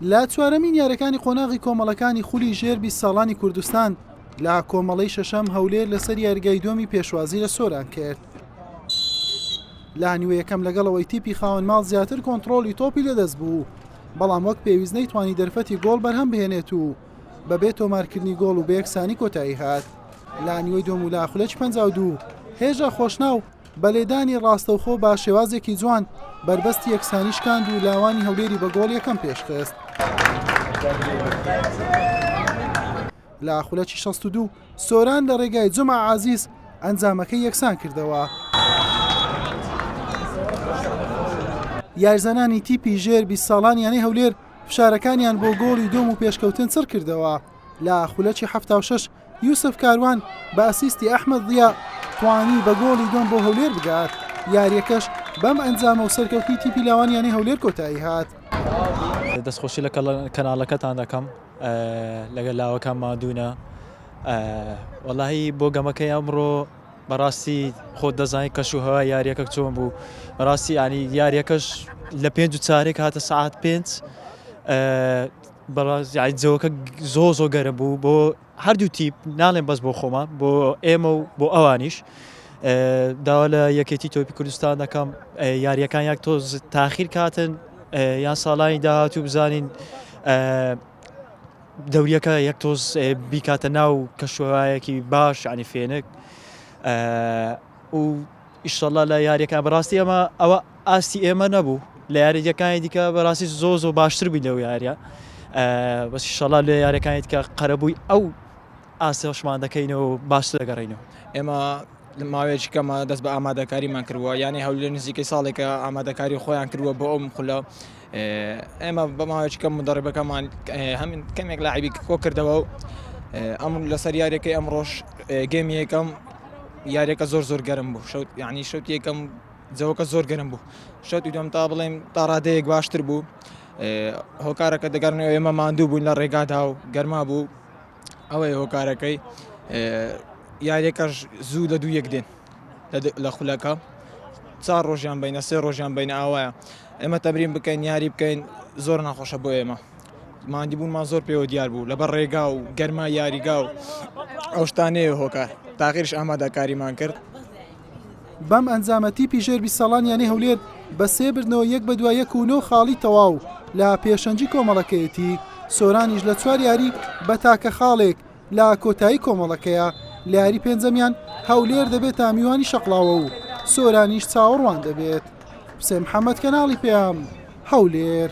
لە چوارەمین یارەکانی قۆناغی کۆمەڵەکانی خولی ژێر بیست ساڵانی کوردستان لە کۆمەڵەی شەشەم هەولێر لەسەر یارگای دۆمی پێشوازی لە سۆران کرد. لە نیوە یەکەم لەگەڵەوەی تیپی خاوەن ماڵ زیاتر کۆنتترۆلی تۆپی لەدەست بوو بەڵام وەک پێویست نەیتوانی دەرفەتی گۆڵ بەرهەم بهێنێت و بەبێ تۆمارکردنی گۆڵ و بەیەکسانی کۆتایی هات لە نیوەی دۆم و لاخولەکی پەنجا و دوو هێژا خۆشناو بە لێدانی ڕاستەوخۆ بە شێوازێکی جوان بەربەستی یەکسانی شکاند و لاوانی هەولێری بە گۆڵ یەکەم پێشخست. لە خولەکی 62 سۆران لە ڕێگای جمع عزیز ئەنجامەکەی یەکسان کردەوە. یارزانانی تیپی ژێر 20 ساڵان یانەی هەولێر فشارەکانیان بۆ گۆڵی دوم و پێشکەوتن چڕ کردەوە لە خولەکی 76 یوسف کاروان بە ئەسیستی ئەحمەد ضیا توانی بە گۆڵی دووەم بۆ هەولێر بگات، یارییەکەش بەم ئەنجامە و سەرکەوتنی تیپی لاوان یانەی هەولێر کۆتایی هات. دەستخۆشی لە کەناڵەکەتان دەکەم لەگەر لاوەکان مادوونە وەڵی بۆ گەمەکەی ئەمڕۆ بەڕاستی خۆت دەزانانی کەش و هەوا یاریەکە چۆن بوو بەڕاستی ئانی یاریەکەش لە پێنج و چارێک هاتە سعات پێنج بەڕاست یاعی جەوەکە زۆر زۆر گەرم بوو بۆ هەردوو تیپ ناڵێن بەس بۆ خۆمە بۆ ئێمە و بۆ ئەوانیش داوا لە یەکێتی تۆپی کوردستان دەکەم یاریەکان یاک تۆ تاخیر کاتن یان ساڵانی داهاتوو بزانین دەوریەکە یەک تۆز بیکاتە ناو کەشوەوایەکی باش عنی فێنک و ئیشەڵا لە یاریەکە بەڕاستی ئەمە ئەوە ئاستی ئێمە نەبوو لە یاریەکانی دیکە بەڕاستی زۆ زۆ باشتر بووی لەو یاریە بەسی شەڵا لە یاریەکانی دیکە قەرەبووی ئەو ئاسەشمان دەکەینەوە باش دەگەڕینەوە ئێمە ماوەیەکی کەمە دەست بە ئامادەکاریمان کردووە یانەی هەولێر نزیکەی ساڵێکە ئامادەکاری خۆیان کردووە بۆ ئەو مخلە ئێمە بە ماوەیەکی کەم مودەڕیبەکەمان هەم کەمێک لاعبی کۆ کردەوە و ئەم لەسەر یاریەکەی ئەمڕۆژ گەمی یەکەم یاریەکە زۆر زۆر گەرم بوو شەوت یعنی شەوت یەکەم جەوەکە زۆر گەرم بوو شەوتی دوم تا بڵێم تاڕادەیەک باشتر بوو هۆکارەکە دەگەڕنەوە ئێمە ماندوو بوون لە ڕێگادا و گەرما بوو ئەوەی هۆکارەکەی یاریەکەش زوو لە دوو یەک دێن لە خولەکە چوار ڕۆژیان بینە سێ ڕۆژیان بینە ئاوایە ئێمە تەبرین بکەین یاری بکەین زۆر ناخۆشە بۆ ئێمە مادی بوونمان زۆر پێوە دیار بوو لەبەر ڕێگا و گەرما یاریگا و ئەو شتانەیە هۆکار تاغیرش ئامادەکاریمان کرد بەم ئەنجامە تیپی ژێر بی ساڵانیانی هەولێر بە سێ بردنەوە یەک بە دوای یەک و نۆ خاڵی تەواو لە پێشەنجی کۆمەڵەکەیەتی سۆرانیش لە چوار یاری بە تاکە خاڵێک لە کۆتایی کۆمەڵەکەیا لە یاری پێنجەمیان هەولێر دەبێتە میوانی شەقڵاوە و سۆرانیش چاوەڕوان دەبێت. حوسێن محەمەد کەناڵی پەیام، هەولێر.